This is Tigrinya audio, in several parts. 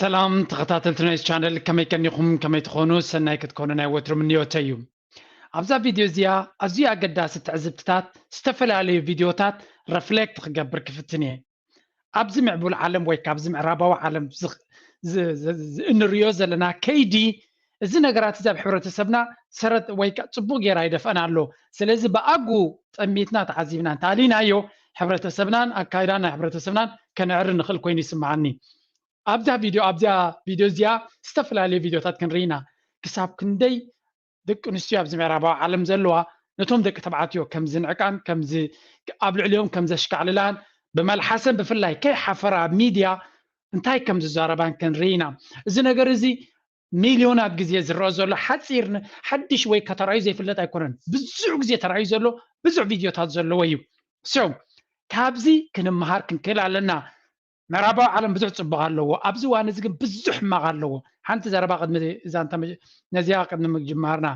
ሰላም ተኸታተልቲ ናይዚ ቻነል ከመይ ከኒኹም ከመይ ትኾኑ ሰናይ ክትኮኑ ናይ ወትሩ ምንዮተይ እዩ ኣብዛ ቪድዮ እዚኣ ኣዝዩ ኣገዳሲ ትዕዝብትታት ዝተፈላለዩ ቪድዮታት ረፍሌክት ክገብር ክፍትን እየ ኣብዚ ምዕቡል ዓለም ወይ ካብዚ ምዕራባዊ ዓለም እንሪኦ ዘለና ከይዲ እዚ ነገራት እዚ ኣብ ሕብረተሰብና ሰረት ወይ ከ ጽቡቅ ጌራ ይደፍኣና ኣሎ ስለዚ ብኣግኡ ጠሚትና ተዓዚብና እንተ ኣሊናዮ ሕብረተሰብናን ኣካይዳ ናይ ሕብረተሰብናን ከነዕሪ ንክእል ኮይኑ ይስምዓኒ ኣብዛ ቪድዮ ኣብዛ ቪድዮ እዚኣ ዝተፈላለዩ ቪድዮታት ክንርኢ ኢና ክሳብ ክንደይ ደቂ ኣንስትዮ ኣብዚ ምዕራባዊ ዓለም ዘለዋ ነቶም ደቂ ተባዕትዮ ከም ዝንዕቃን ከም ኣብ ልዕሊኦም ከም ዘሽካዕልላን ብመልሓሰን ብፍላይ ከይሓፈራ ኣብ ሚድያ እንታይ ከም ዝዛረባን ክንርኢ ኢና እዚ ነገር እዚ ሚልዮናት ግዜ ዝረኣ ዘሎ ሓጺር ን ሓድሽ ወይ እካ ተራእዩ ዘይፍለጥ ኣይኮነን ብዙሕ ግዜ ተራእዩ ዘሎ ብዙሕ ቪድዮታት ዘለዎ እዩ so ካብዚ ክንመሃር ክንክእል ኣለና ምዕራባዊ ዓለም ብዙሕ ጽቡቅ ኣለዎ ኣብዚ እዋን እዚ ግን ብዙሕ ሕማቅ ኣለዎ ሓንቲ ዘረባ ቅድሚ ዛንታ ነዚኣ ቅድሚ ምጅማርና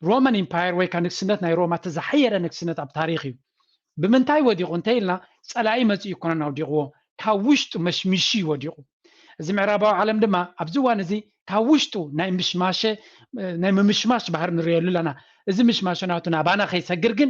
ሮማን ኢምፓየር ወይ ከ ንግስነት ናይ ሮማ እቲ ዝሓየለ ንግስነት ኣብ ታሪኽ እዩ ብምንታይ ወዲቑ እንተይልና ጸላኢ መጺኡ ይኮነን ኣውዲቕዎ ካብ ውሽጡ መሽሚሹ እዩ ወዲቑ እዚ ምዕራባዊ ዓለም ድማ ኣብዚ እዋን እዚ ካብ ውሽጡ ናይ ምሽማሸ ናይ ምምሽማሽ ባህር ንሪኦሉ ኣለና እዚ ምሽማሸ ናቱ ናባና ከይሰግር ግን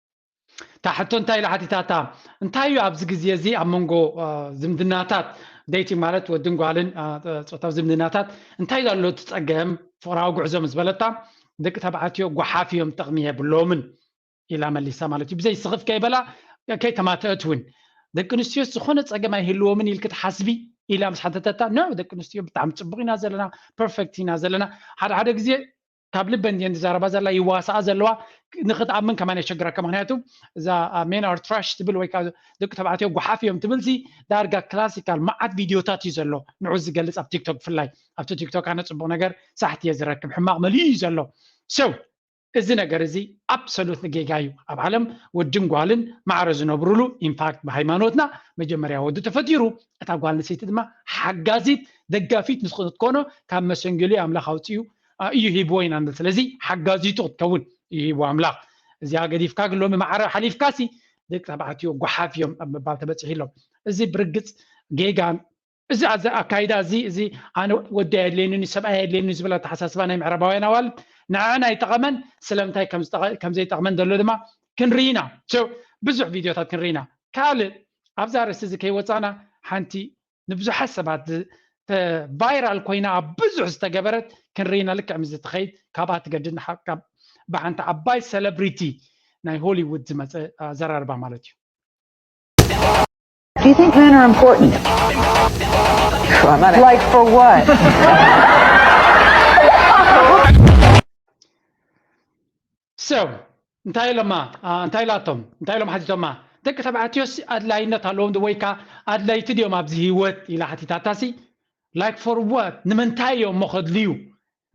እታ ሕቶ እንታይ ኢላ ሓቲታታ እንታይ እዩ ኣብዚ ግዜ እዚ ኣብ መንጎ ዝምድናታት ደይቲ ማለት ወድን ጓልን ፆታዊ ዝምድናታት እንታይ ዘሎ ትፀገም ፍቕራዊ ጉዕዞ ምስ በለታ ደቂ ተባዕትዮ ጓሓፍ እዮም ጥቕሚ የብሎምን ኢላ መሊሳ ማለት እዩ ብዘይ ስኽፍ ከይበላ ከይተማተአት እውን ደቂ ኣንስትዮ ዝኾነ ፀገም ኣይህልዎምን ኢልክ ትሓስቢ ኢላ ምስ ሓተተታ ኖ ደቂ ኣንስትዮ ብጣዕሚ ፅቡቕ ኢና ዘለና ፐርፌክት ኢና ዘለና ሓደ ሓደ ግዜ ካብ ልበን እየን ዝዛረባ ዘላ ይዋሳኣ ዘለዋ ንክትኣምን ከማን የሸግረካ ምክንያቱ እዛ ሜን ኣር ትራሽ ትብል ወይ ከዓ ደቂ ተባዕትዮ ጎሓፍ እዮም ትብል ሲ ዳርጋ ክላሲካል መዓት ቪድዮታት እዩ ዘሎ ንዑ ዝገልፅ ኣብ ቲክቶክ ብፍላይ ኣብቲ ቲክቶክ ኣነ ፅቡቅ ነገር ሳሕቲ እየ ዝረክብ ሕማቅ መሊኡ እዩ ዘሎ ሰው እዚ ነገር እዚ ኣብሶሉት ንጌጋ እዩ ኣብ ዓለም ወድን ጓልን ማዕረ ዝነብሩሉ ኢንፋክት ብሃይማኖትና መጀመርያ ወዲ ተፈጢሩ እታ ጓል ንሰይቲ ድማ ሓጋዚት ደጋፊት ንስክትኮኖ ካብ መሰንጌሉ ኣምላኽ ኣውፅኡ እዩ ሂብዎ ኢና ንብል ስለዚ ሓጋዚቱ ክትከውን እዩ ሂብዎ ኣምላኽ እዚኣ ገዲፍካ ግን ሎሚ ማዕረ ሓሊፍካሲ ደቂ ተባዕትዮ ጓሓፍ እዮም ኣብ ምባል ተበፂሑ ኣሎ እዚ ብርግፅ ጌጋን እዚ ኣዚ ኣካይዳ እዚ እዚ ኣነ ወዲ ኣየድልየንን እዩ ሰብኣይ ኣየድልየንን ዝብል ኣተሓሳስባ ናይ ምዕራባውያን ኣዋልድ ንዐዐን ኣይጠቐመን ስለምንታይ ከም ዘይጠቕመን ዘሎ ድማ ክንርኢ ኢና ብዙሕ ቪድዮታት ክንርኢ ኢና ካልእ ኣብዛ ርእስቲ እዚ ከይወፃእና ሓንቲ ንብዙሓት ሰባት ቫይራል ኮይና ኣብ ብዙሕ ዝተገበረት ክንርኢና ልክዕ ምስዚ ትኸይድ ካብኣ ትገድድ ካብ ብሓንቲ ዓባይ ሰለብሪቲ ናይ ሆሊውድ ዝመፀ ኣዘራርባ ማለት እዩ Do you think men are important? For money. Like for what? ሰብ እንታይ ኢሎማ እንታይ ኢላቶም እንታይ ኢሎም ሓቲቶማ ደቂ ተባዕትዮስ ኣድላይነት ኣለዎም ዶ ወይካ ኣድለይቲ ድዮም ኣብዚ ሂወት ኢላ ሓቲታታሲ ላይክ ፎር ዋት ንምንታይ እዮም እሞ ከድልዩ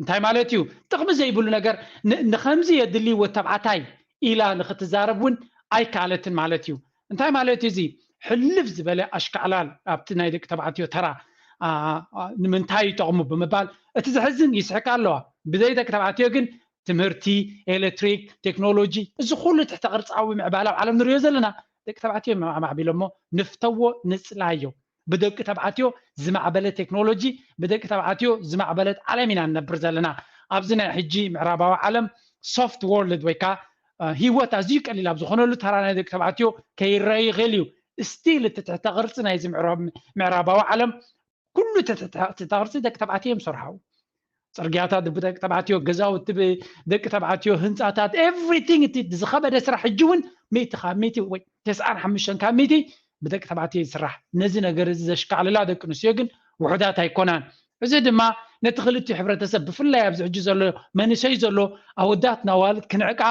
እንታይ ማለት እዩ ጥቕሚ ዘይብሉ ነገር ንኸምዚ የድሊ ወድ ተባዕታይ ኢላ ንኽትዛረብ እውን ኣይከኣለትን ማለት እዩ እንታይ ማለት እዩ እዚ ሕልፍ ዝበለ ኣሽካዕላል ኣብቲ ናይ ደቂ ተባዕትዮ ተራ ንምንታይ ይጠቕሙ ብምባል እቲ ዘሕዝን ይስሕቃ ኣለዋ ብዘይ ደቂ ተባዕትዮ ግን ትምህርቲ፣ ኤለትሪክ፣ ቴክኖሎጂ፣ እዚ ኩሉ ትሕተ ቅርጻዊ ምዕባለ ኣብ ዓለም ንርእዮ ዘለና ደቂ ተባዕትዮ እዮም ኣማዕቢሎሞ፣ ንፍተዎ ንጽላዮ ብደቂ ተባዕትዮ ዝማዕበለ ቴክኖሎጂ ብደቂ ተባዕትዮ ዝማዕበለት ዓለም ኢና ንነብር ዘለና። ኣብዚ ናይ ሕጂ ምዕራባዊ ዓለም ሶፍት ዎርልድ ወይ ከኣ ሂወት ኣዝዩ ቀሊል ኣብ ዝኾነሉ ተራ ናይ ደቂ ተባዕትዮ ከይረኣ ይኽእል እዩ። ስቲል እቲ ትሕተ ቅርጺ ናይዚ ምዕራባዊ ዓለም ኩሉ ተተታቅርቲ ደቂ ተባዕትዮ እዮም ዝሰርሓው ፅርግያታት ብደቂ ተባዕትዮ ገዛውቲ ብደቂ ተባዕትዮ ህንፃታት ኤቭሪቲንግ እቲ ዝኸበደ ስራሕ ሕጂ እውን ሚእቲ ካብ ሚእቲ ወይ ተስዓን ሓሙሽተን ካብ ሚእቲ ብደቂ ተባዕትዮ ዝስራሕ ነዚ ነገር እዚ ዘሽካዕልላ ደቂ ኣንስትዮ ግን ውሑዳት ኣይኮናን እዚ ድማ ነቲ ክልቲኡ ሕብረተሰብ ብፍላይ ኣብዚ ሕጂ ዘሎ መንእሰይ ዘሎ ኣወዳት ናዋልድ ክንዕቃ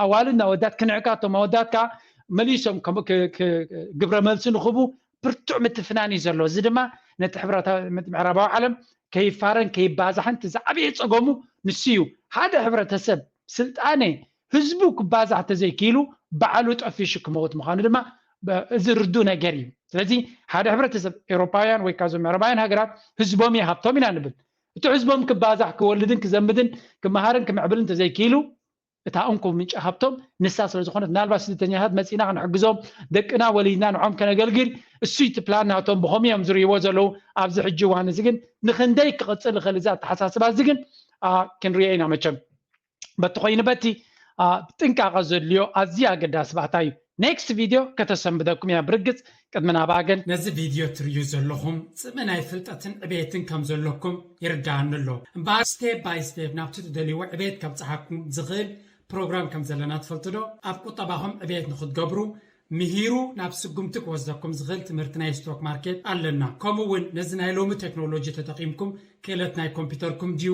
ኣዋልድ ናወዳት ክንዕቃ እቶም ኣወዳት ከዓ መሊሶም ግብረ መልሲ ንኽቡ ብርቱዕ ምትፍናን እዩ ዘሎ። እዚ ድማ ነቲ ሕብረታ ነቲ ምዕራባዊ ዓለም ከይፋረን ከይባዛሕን እቲ ዝዓበየ ጸገሙ ንሱ እዩ። ሓደ ሕብረተሰብ ስልጣነ ህዝቡ ክባዛሕ ተዘይክኢሉ ባዕሉ ጠፊሹ ክመውት ምዃኑ ድማ ብ እዚ ርዱእ ነገር እዩ። ስለዚ ሓደ ሕብረተሰብ ኤውሮጳውያን ወይ ከኣ እዞም ምዕራባውያን ሃገራት ህዝቦም እዩ ሃብቶም ኢና ንብል። እቲ ህዝቦም ክባዛሕ ክወልድን ክዘምድን ክመሃርን ክምዕብልን ተዘይክኢሉ እታ እንኮ ምንጪ ሃብቶም ንሳ ስለ ዝኾነት ምናልባት ስደተኛታት መፂና ክንሕግዞም ደቅና ወሊድና ንዖም ከነገልግል እሱ እቲ ፕላን ናቶም ብኸምኡ እዮም ዝርእይዎ ዘለዉ ኣብዚ ሕጂ እዋን እዚ ግን ንክንደይ ክቕፅል ይኽእል እዚ ኣተሓሳስባ እዚ ግን ክንሪኦ ኢና መቸም በቲ ኮይኑ በቲ ጥንቃቐ ዘድልዮ ኣዝዩ ኣገዳሲ ባእታ እዩ Next video ከተሰንብደኩም እያ ብርግጽ ቅድሚ ናብኣ ግን። ነዚ ቪድዮ ትርእዩ ዘለኹም ጽምኢ ናይ ፍልጠትን ዕብየትን ከም ዘለኩም ይርድኣኒ ኣሎ። እምበኣር ስቴፕ ባይ ስቴፕ ናብቲ ትደልይዎ ዕብየት ከብጽሓኩም ዝኽእል ፕሮግራም ከም ዘለና ትፈልጡ ዶ? ኣብ ቁጠባኹም ዕብየት ንኽትገብሩ ምሂሩ ናብ ስጉምቲ ክወስደኩም ዝኽእል ትምህርቲ ናይ ስቶክ ማርኬት ኣለና። ከምኡ'ውን ነዚ ናይ ሎሚ ቴክኖሎጂ ተጠቒምኩም ክእለት ናይ ኮምፒተርኩም ድዩ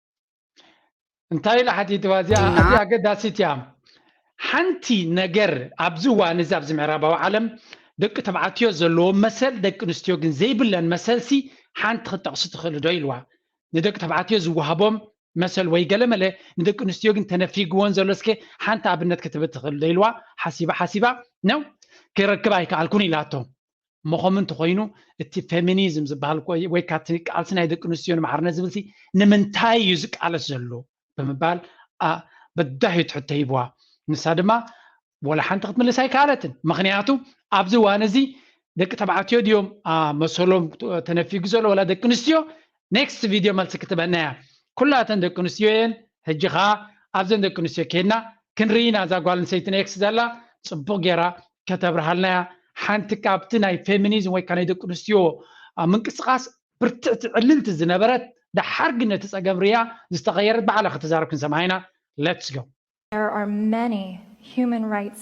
እንታይ ኢላ ሓቲትዋ እዚኣ እና ኣዝያ ኣገዳሲት እያ ሓንቲ ነገር ኣብዚ እዋን እዚ ኣብዚ ምዕራባዊ ዓለም ደቂ ተባዕትዮ ዘለዎም መሰል ደቂ ኣንስትዮ ግን ዘይብለን መሰልሲ ሓንቲ ክትጠቕሱ ትኽእሉ ዶ ኢልዋ ንደቂ ተባዕትዮ ዝወሃቦም መሰል ወይ ገለመለ ንደቂ ኣንስትዮ ግን ተነፊግዎን ዘሎ እስከ ሓንቲ ኣብነት ክትብ ትኽእል ዶ ኢልዋ ሓሲባ ሓሲባ ነው ክረክብ ኣይከኣልኩን ኢላቶ እሞ ከምኡ እንተኾይኑ እቲ ፌሚኒዝም ዝበሃል ወይ ከዓ እቲ ቃልሲ ናይ ደቂ ኣንስትዮ ንማዕርነት ዝብልሲ ንምንታይ እዩ ዝቃለስ ዘሎ ብምባል በዳሂ ትሕቶ ሂብዋ ንሳ ድማ ወላ ሓንቲ ክትምልስ ኣይከኣለትን ምክንያቱ ኣብዚ እዋን እዚ ደቂ ተባዕትዮ ድዮም መሰሎም ተነፊጉ ዘሎ ወላ ደቂ ኣንስትዮ ኔክስት ቪድዮ መልሲ ክትበና እያ ኩላ እተን ደቂ ኣንስትዮ እየን ሕጂ ከኣ ኣብዘን ደቂ ኣንስትዮ ኬድና ክንርኢ ኢና እዛ ጓል ኣንሰይቲ ኔክስ ዘላ ጽቡቕ ጌራ ከተብርሃልና እያ ሓንቲ ካብቲ ናይ ፌሚኒዝም ወይ ከዓ ናይ ደቂ ኣንስትዮ ምንቅስቓስ ብርትዕቲ ዕልልቲ ዝነበረት ደሓር ግን ነቲ ጸገም ርያ ዝተቐየረት ባዕላ ክትዛረብ ክንሰምዓ ኢና ሌትስ ጎ There are many human rights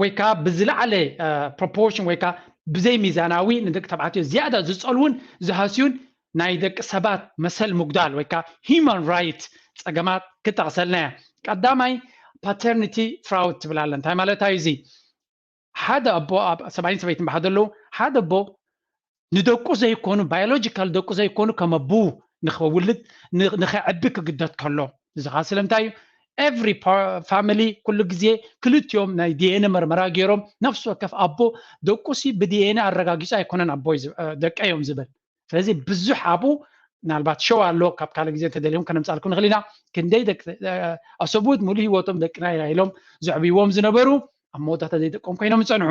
ወይ ከዓ ብዝለዓለ ፕሮፖርሽን ወይ ከዓ ብዘይ ሚዛናዊ ንደቂ ተባዕትዮ ዝያዳ ዝፀልውን ዝሃስዩን ናይ ደቂ ሰባት መሰል ምጉዳል ወይ ከዓ ሂማን ራይት ፀገማት ክጠቕሰልና እያ ቀዳማይ ፓተርኒቲ ፍራውድ ትብል ኣለ እንታይ ማለት እዩ እዚ ሓደ ኣቦ ኣብ ሰብኣይን ሰበይትን ብሓደ ኣለዉ ሓደ ኣቦ ንደቁ ዘይኮኑ ባዮሎጂካል ደቁ ዘይኮኑ ከም ኣቡኡ ንኸውልድ ንኸዕቢ ክግደድ ከሎ እዚ ኸኣ ስለምንታይ እዩ ኤቭሪ ፋሚሊ ኩሉ ግዜ ክልቲኦም ናይ ዲኤንኤ መርመራ ገይሮም ነፍሲ ወከፍ ኣቦ ደቁሲ ብዲኤንኤ ኣረጋጊጹ ኣይኮነን ኣቦ ደቀ እዮም ዝብል ስለዚ ብዙሕ ኣብኡ ምናልባት ሸው ኣሎ ካብ ካልእ ግዜ እንተደልዮም ከነምፃልኩ ንኽእል ኢና ክንደይ ደቂ ኣሰብኡት ሙሉ ሂወቶም ደቅና ኢና ኢሎም ዘዕብይዎም ዝነበሩ ኣብ መወዳእታ ዘይደቆም ኮይኖም ዝፀንሑ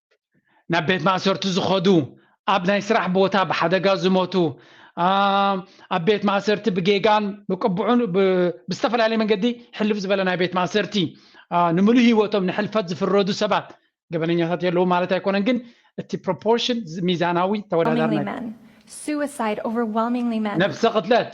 ናብ ቤት ማእሰርቲ ዝኸዱ ኣብ ናይ ስራሕ ቦታ ብሓደጋ ዝሞቱ ኣብ ቤት ማእሰርቲ ብጌጋን ብቅቡዑን ብዝተፈላለየ መንገዲ ሕልፍ ዝበለ ናይ ቤት ማእሰርቲ ንምሉእ ሂወቶም ንሕልፈት ዝፍረዱ ሰባት ገበነኛታት የለዉ ማለት ኣይኮነን ግን እቲ ፕሮፖርሽን ሚዛናዊ ተወዳዳሪ ነብሰ ቅትለት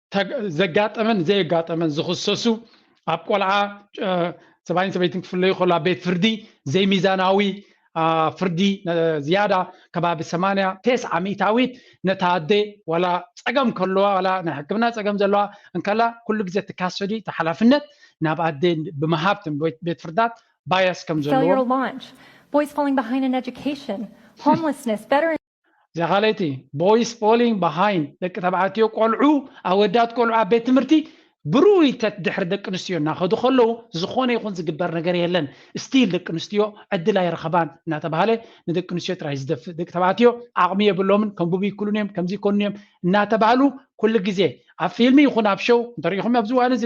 ዘጋጠመን ዘየጋጠመን ዝኽሰሱ ኣብ ቆልዓ ሰብኣይን ሰበይትን ክፍለዩ ከሎ ኣብ ቤት ፍርዲ ዘይሚዛናዊ ፍርዲ ዝያዳ ከባቢ ሰማንያ ቴስዓ ሚእታዊት ነታ ኣደ ዋላ ፀገም ከለዋ ዋላ ናይ ሕክምና ፀገም ዘለዋ እንከላ ኩሉ ግዜ እቲ ካሰዲ እቲ ሓላፍነት ናብ ኣደ ብምሃብ ቤት ፍርዳት ባያስ ከም ዘለዎ እዛ ካልኣይቲ ቦይስ ፎሊንግ ባሃይንድ ደቂ ተባዕትዮ ቆልዑ ኣወዳት ቆልዑ ኣብ ቤት ትምህርቲ ብርኡይተት ድሕሪ ደቂ ኣንስትዮ እናኸዱ ከለዉ ዝኾነ ይኹን ዝግበር ነገር የለን ስቲል ደቂ ኣንስትዮ ዕድል ኣይረኸባን እናተባሃለ ንደቂ ኣንስትዮ ጥራይ ዝደፍእ ደቂ ተባዕትዮ ዓቕሚ የብሎምን ከንብቡ ይክሉን እዮም ከምዚ ይኮኑን እዮም እናተባህሉ ኩሉ ግዜ ኣብ ፊልሚ ይኹን ኣብ ሸው እንተሪኢኹም ኣብዚ እዋን እዚ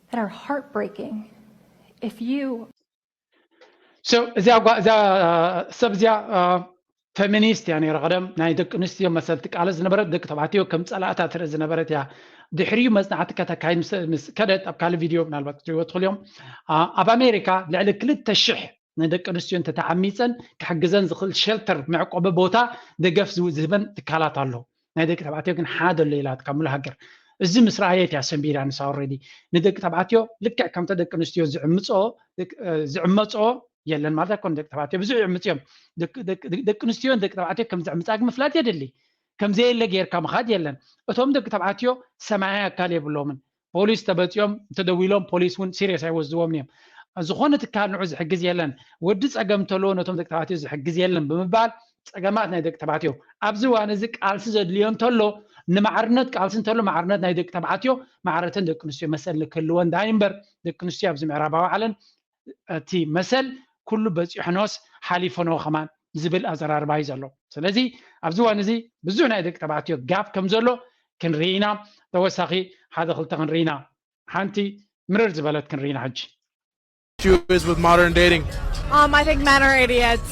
that are heartbreaking if you so እዚኣ እዚኣ ሰብ እዚኣ ፌሚኒስት እያ ነይራ ቀደም ናይ ደቂ ኣንስትዮ መሰል ትቃለስ ዝነበረት ደቂ ተባዕትዮ ከም ፀላእታ ትርኢ ዝነበረት እያ ድሕሪኡ መፅናዕቲ ከተካይድ ምስ ከደት ኣብ ካልእ ቪድዮ ምናልባት ክትሪእዎ ትኽእሉ እዮም ኣብ ኣሜሪካ ልዕሊ ክልተ ሽሕ ንደቂ ኣንስትዮ እንተተዓሚፀን ክሕግዘን ዝኽእል ሸልተር መዕቆቢ ቦታ ደገፍ ዝህበን ትካላት ኣሎ ናይ ደቂ ተባዕትዮ ግን ሓደ ኣሎ ኢላትካ ሙሉ ሃገር እዚ ምስ ረኣየት እያ ሰንቢዳ ንሳ ኦልሬዲ ንደቂ ተባዕትዮ ልክዕ ከምተ ደቂ ኣንስትዮ ዝዕምፅኦ ዝዕመፅኦ የለን ማለት ኣይኮነ ደቂ ተባዕትዮ ብዙሕ ይዕምፅ እዮም ደቂ ኣንስትዮን ደቂ ተባዕትዮ ከም ዝዕምፃ ግን ምፍላጥ የድሊ ከምዘየለ ጌርካ ምኻድ የለን እቶም ደቂ ተባዕትዮ ሰማያዊ ኣካል የብሎምን ፖሊስ ተበጽዮም እንተደዊሎም ፖሊስ እውን ሲርየስ ኣይወስድዎምን እዮም። ዝኾነ ትካል ንዑ ዝሕግዝ የለን፣ ወዲ ጸገም እንተለዎ ነቶም ደቂ ተባዕትዮ ዝሕግዝ የለን ብምባል ጸገማት ናይ ደቂ ተባዕትዮ ኣብዚ እዋን እዚ ቃልሲ ዘድልዮ እንተሎ ንማዕርነት ቃልሲ እንተሎ ማዕርነት ናይ ደቂ ተባዕትዮ ማዕረተን ደቂ ኣንስትዮ መሰል ክህልወን ድሃይ እምበር ደቂ ኣንስትዮ ኣብዚ ምዕራባዊ ዓለም እቲ መሰል ኩሉ በጺሑኖስ ሓሊፉኖ ከማን ዝብል ኣዘራርባ እዩ ዘሎ ስለዚ ኣብዚ እዋን እዚ ብዙሕ ናይ ደቂ ተባዕትዮ ጋፕ ከም ዘሎ ክንርኢ ኢና ተወሳኺ ሓደ ክልተ ክንርኢ ኢና ሓንቲ ምርር ዝበለት ክንርኢ ኢና ሕጂ issue is with modern dating? Um, I think men are idiots.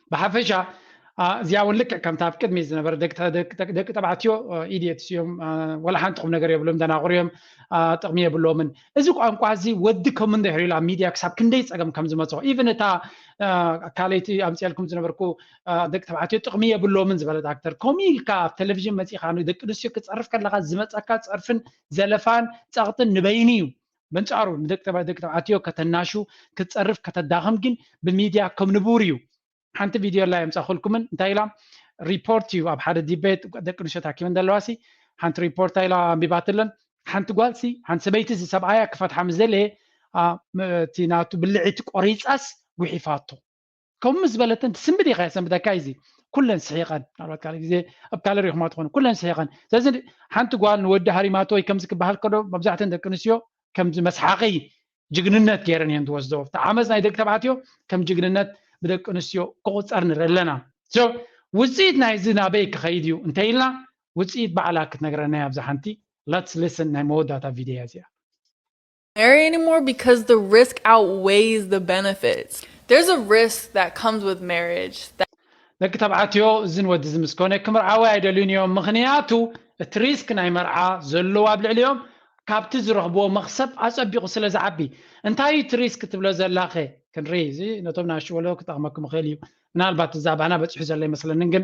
ብሓፈሻ እዚኣ እውን ልክዕ ከምታ ኣብ ቅድሚ ዝነበረ ደቂ ተባዕትዮ ኢድየትስ እዮም ዋላ ሓንቲ ቁም ነገር የብሎም ደናቑር እዮም ጥቕሚ የብሎምን እዚ ቋንቋ እዚ ወዲ ከም እንድሕር ኢሉ ኣብ ሚድያ ክሳብ ክንደይ ፀገም ከም ዝመፅኦ ኢቨን እታ ካልይቲ ኣምፅኤልኩም ዝነበርኩ ደቂ ተባዕትዮ ጥቕሚ የብሎምን ዝበለት ኣክተር ከምኡ ኢልካ ኣብ ቴሌቭዥን መፂእካ ንደቂ ኣንስትዮ ክፀርፍ ከለካ ዝመፀካ ፀርፍን ዘለፋን ፀቕጥን ንበይኑ እዩ በንጻሩ ንደቂ ተባዕትዮ ደቂ ተባዕትዮ ከተናሹ ክትጸርፍ ከተዳኽም ግን ብሚድያ ከም ንቡር እዩ ሓንቲ ቪድዮ ላ የምጻኹልኩምን እንታይ ኢላ ሪፖርት እዩ ኣብ ሓደ ዲቤት ደቂ ኣንስትዮ ተኣኪበን ዘለዋ ሲ ሓንቲ ሪፖርታ ኢላ ኣንቢባትለን ሓንቲ ጓልሲ ሓንቲ ሰበይቲ እዚ ሰብኣያ ክፈትሓ ምስ ደለየ እቲ ናቱ ብልዒቲ ቆሪጻስ ጉሒፋቶ ከምኡ ምስ በለተን ትስምብድ ኢኻ ሰንብታ ካይዚ ኩለን ስሒቐን ናባት ካልእ ግዜ ኣብ ካልእ ሪኹማ ትኾኑ ኩለን ስሒቐን ስለዚ ሓንቲ ጓል ንወዲ ሃሪማቶ ወይ ከምዚ ክበሃል ከዶ መብዛሕተን ደቂ ኣንስትዮ ከምዚ መስሓቂ ጅግንነት ገይረን እየን ዝወስዶ እቲ ዓመፅ ናይ ደቂ ተባዕትዮ ከም ጅግንነት ብደቂ ኣንስትዮ ክቑፀር ንርኢ ኣለና ውፅኢት ናይዚ ናበይ ክኸይድ እዩ እንተኢልና ውፅኢት ባዕላ ክትነግረና እያ ኣብዛ ሓንቲ ለትስ ሊስን ናይ መወዳእታ ቪድዮ እያ እዚኣ marry anymore because the risk outweighs the benefits. There's a risk that comes with marriage that ደቂ ተባዕትዮ እዝን ወዲ እዚ ምስ ኮነ ክምርዓወ ኣይደልዩን እዮም ምኽንያቱ እቲ ሪስክ ናይ መርዓ ዘለዎ ኣብ ልዕሊኦም ካብቲ ዝረኽብዎ መኽሰብ ኣጸቢቑ ስለ ዝዓቢ እንታይ እዩ እቲ ሪስክ ትብሎ ዘላኸ ክንርኢ እዚ ነቶም ናኣሽቱ ወለዶ ክጠቕመኩም ይኽእል እዩ ምናልባት እዛባና በጺሑ ዘሎ ኣይመስለንን ግን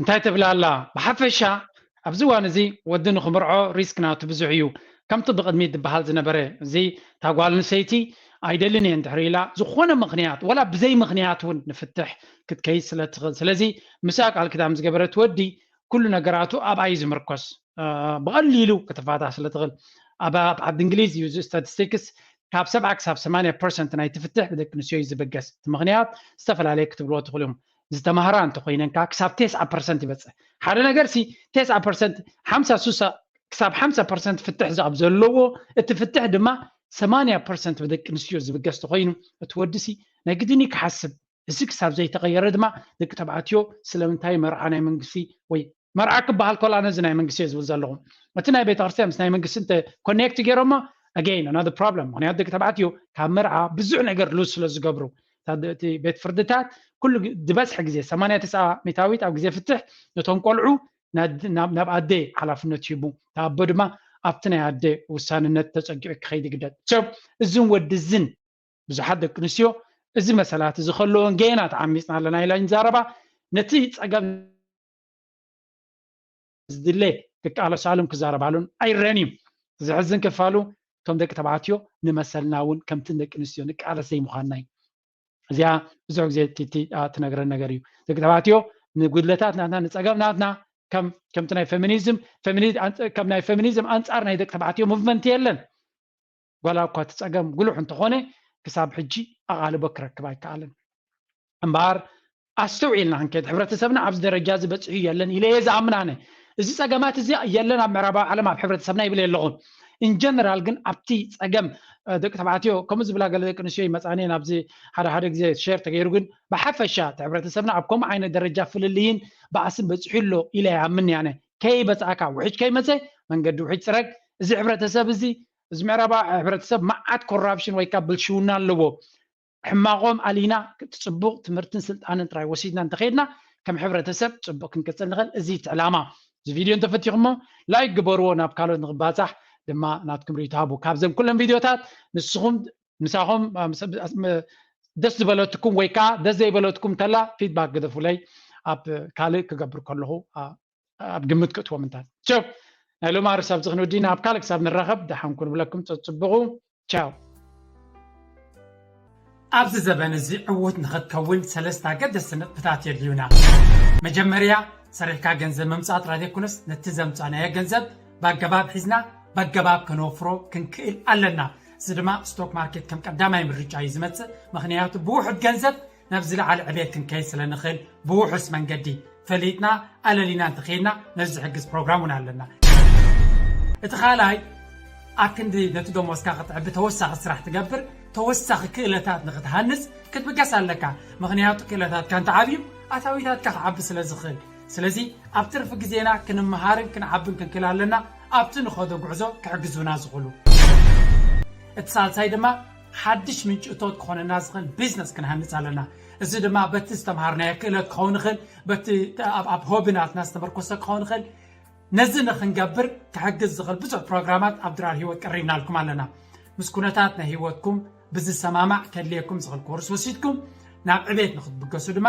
እንታይ ትብል ኣላ ብሓፈሻ ኣብዚ እዋን እዚ ወዲ ንክምርዖ ሪስክ ናቱ ብዙሕ እዩ ከምቲ ብቅድሚት ዝበሃል ዝነበረ እዚ እታ ጓል ኣንስተይቲ ኣይደልን እየ እንድሕር ኢላ ዝኾነ ምክንያት ወላ ብዘይ ምክንያት እውን ንፍትሕ ክትከይድ ስለ ትኽእል ስለዚ ምስኣ ቃል ክዳም ዝገበረት ወዲ ኩሉ ነገራቱ ኣብኣ እዩ ዝምርኮስ ብቐሊሉ ክትፋታ ስለ ትኽእል ኣብ ዓዲ እንግሊዝ እዩ እዚ ስታቲስቲክስ ካብ ሰብዓ ክሳብ ሰማንያ ፐርሰንት ናይ ትፍትሕ ብደቂ ኣንስትዮ እዩ ዝብገስ እቲ ምክንያት ዝተፈላለየ ክትብልዎ ትኽእሉ እዮም ዝተማህራ እንተኾይነንካ ክሳብ ቴስዓ ፐርሰንት ይበፅሕ ሓደ ነገር ሲ ቴስዓ ፐርሰንት ሓምሳ ሱሳ ክሳብ ሓምሳ ፐርሰንት ፍትሕ ዝኣብ ዘለዎ እቲ ፍትሕ ድማ ሰማንያ ፐርሰንት ብደቂ ኣንስትዮ ዝብገስ ተኾይኑ እቲ ወዲ ሲ ናይ ግድን እዩ ክሓስብ እዚ ክሳብ ዘይተቐየረ ድማ ደቂ ተባዕትዮ ስለምንታይ መርዓ ናይ መንግስቲ ወይ መርዓ ክበሃል ኮላ ነዚ ናይ መንግስቲ እየ ዝብል ዘለኹ እቲ ናይ ቤተክርስትያን ምስ ናይ መንግስቲ እንተ ኮኔክት ገይሮሞ ኣገይን ኣናዘር ፕሮብለም ምክንያቱ ደቂ ተባዕትዮ ካብ መርዓ ብዙሕ ነገር ሉዝ ስለ ዝገብሩ እቲ ቤት ፍርድታት ኩሉ ዝበዝሐ ግዜ 89 ሚታዊት ኣብ ግዜ ፍትሕ ነቶም ቆልዑ ናብ ኣደ ሓላፍነት ሂቡ እቲ ኣቦ ድማ ኣብቲ ናይ ኣደ ውሳንነት ተፀጊዑ ክኸይድ ይግደድ ሰብ እዝን ወዲ እዝን ብዙሓት ደቂ ኣንስትዮ እዚ መሰላት እዚ ከለዎን ገና ተዓሚፅና ኣለና ኢለን ይዛረባ ነቲ ፀገም ዝድለ ክቃለሳሉን ክዛረባሉን ኣይረኣን እዩ። ዘሕዝን ክፋሉ እቶም ደቂ ተባዕትዮ ንመሰልና እውን ከምቲ ደቂ ኣንስትዮ ንቃለስ ዘይምዃንና እዩ። እዚኣ ብዙሕ ግዜ ቲቲ ትነግረን ነገር እዩ። ደቂ ተባዕትዮ ንጉድለታት ናትና ንፀገም ናትና ከም ከምቲ ናይ ፌሚኒዝም ከም ናይ ፌሚኒዝም ኣንፃር ናይ ደቂ ተባዕትዮ ሙቭመንት የለን። ዋላ'ኳ እቲ ጸገም ጉሉሕ እንተኾነ ክሳብ ሕጂ ኣቓልቦ ክረክብ ኣይከኣለን። እምበኣር ኣስተውዒልና ክንከይድ ሕብረተሰብና ኣብዚ ደረጃ'ዚ በጺሑ የለን ኢለ'የ ዝኣምን ኣነ። እዚ ጸገማት'ዚ የለን ኣብ ምዕራባዊ ዓለም ኣብ ሕብረተሰብና ይብል የለኹ። in general ግን ኣብቲ ጸገም ደቂ ተባዕትዮ ከምኡ ዝብላ ገለ ደቂ ኣንስትዮ ይመጻኒ እየን ኣብዚ ሓደ ሓደ ግዜ ሼር ተገይሩ ግን ብሓፈሻ እቲ ሕብረተሰብና ኣብ ከምኡ ዓይነት ደረጃ ፍልልይን ባእስን በጺሑ ኣሎ ኢለ ይኣምን እየ ኣነ። ከይበጻእካ ውሕጅ ከይመጸ መንገዲ ውሕጅ ጽረግ እዚ ሕብረተሰብ እዚ እዚ ምዕራባዊ ሕብረተሰብ መዓት ኮራፕሽን ወይ ከኣ ብልሽውና ኣለዎ ሕማቆም ኣሊና እቲ ጽቡቅ ትምህርትን ስልጣንን ጥራይ ወሲድና እንተከድና ከም ሕብረተሰብ ጽቡቅ ክንቅጽል ንክእል እዚ እቲ ዕላማ እዚ ቪድዮ እንተፈቲኹሞ ላይክ ግበርዎ ናብ ካልኦት ንክባጻሕ ድማ ናትኩም ሪኢቶ ሃቡ ካብዘም ኩለን ቪድዮታት ንስኹም ምሳኹም ደስ ዝበለትኩም ወይ ከኣ ደስ ዘይበለትኩም ከላ ፊድባክ ግደፉለይ ኣብ ካልእ ክገብር ከለኹ ኣብ ግምት ክእትዎ ምንታት ቸው ናይ ሎም ኣርስ ኣብዚ ክንውዲና ኣብ ካልእ ክሳብ ንራኸብ ደሓን ኩን ብለኩም ፀፅብቑ ቻው ኣብዚ ዘበን እዚ ዕዉት ንኽትከውን ሰለስተ ኣገደስቲ ነጥብታት የድልዩና። መጀመርያ ሰሪሕካ ገንዘብ ምምፃእ ጥራይ ዘይኮነስ ነቲ ዘምፃእናዮ ገንዘብ ብኣገባብ ሒዝና ብኣገባብ ከነወፍሮ ክንክእል ኣለና። እዚ ድማ ስቶክ ማርኬት ከም ቀዳማይ ምርጫ እዩ ዝመፅእ ምኽንያቱ ብውሑድ ገንዘብ ናብ ዝለዓለ ዕቤት ክንከይድ ስለ ንኽእል ብውሑስ መንገዲ ፈሊጥና ኣለሊና እንተኸይድና ነዚ ዝሕግዝ ፕሮግራም እውን ኣለና እቲ ካልኣይ ኣብ ክንዲ ነቲ ደሞዝካ ክትዕቢ ተወሳኺ ስራሕ ትገብር ተወሳኺ ክእለታት ንኽትሃንፅ ክትብገስ ኣለካ ምክንያቱ ክእለታትካ እንትዓብዩ ኣታዊታትካ ክዓቢ ስለ ዝኽእል ስለዚ ኣብ ትርፊ ግዜና ክንመሃርን ክንዓብን ክንክእል ኣለና ኣብቲ ንኸዶ ጉዕዞ ክሕግዙና ዝኽእሉ እቲ ሳልሳይ ድማ ሓድሽ ምንጪ እቶት ክኾነና ዝኽእል ቢዝነስ ክንሃንጽ ኣለና። እዚ ድማ በቲ ዝተምሃርናዮ ክእለት ክኸውን ይኽእል፣ በቲ ኣብ ሆቢናትና ዝተመርኮሰ ክኸውን ይኽእል። ነዚ ንኽንገብር ክሕግዝ ዝኽእል ብዙሕ ፕሮግራማት ኣብ ድራር ህይወት ቀሪብናልኩም ኣለና። ምስ ኩነታት ናይ ህይወትኩም ብዝሰማማዕ ከድልየኩም ዝኽእል ኮርስ ወሲድኩም ናብ ዕቤት ንኽትብገሱ ድማ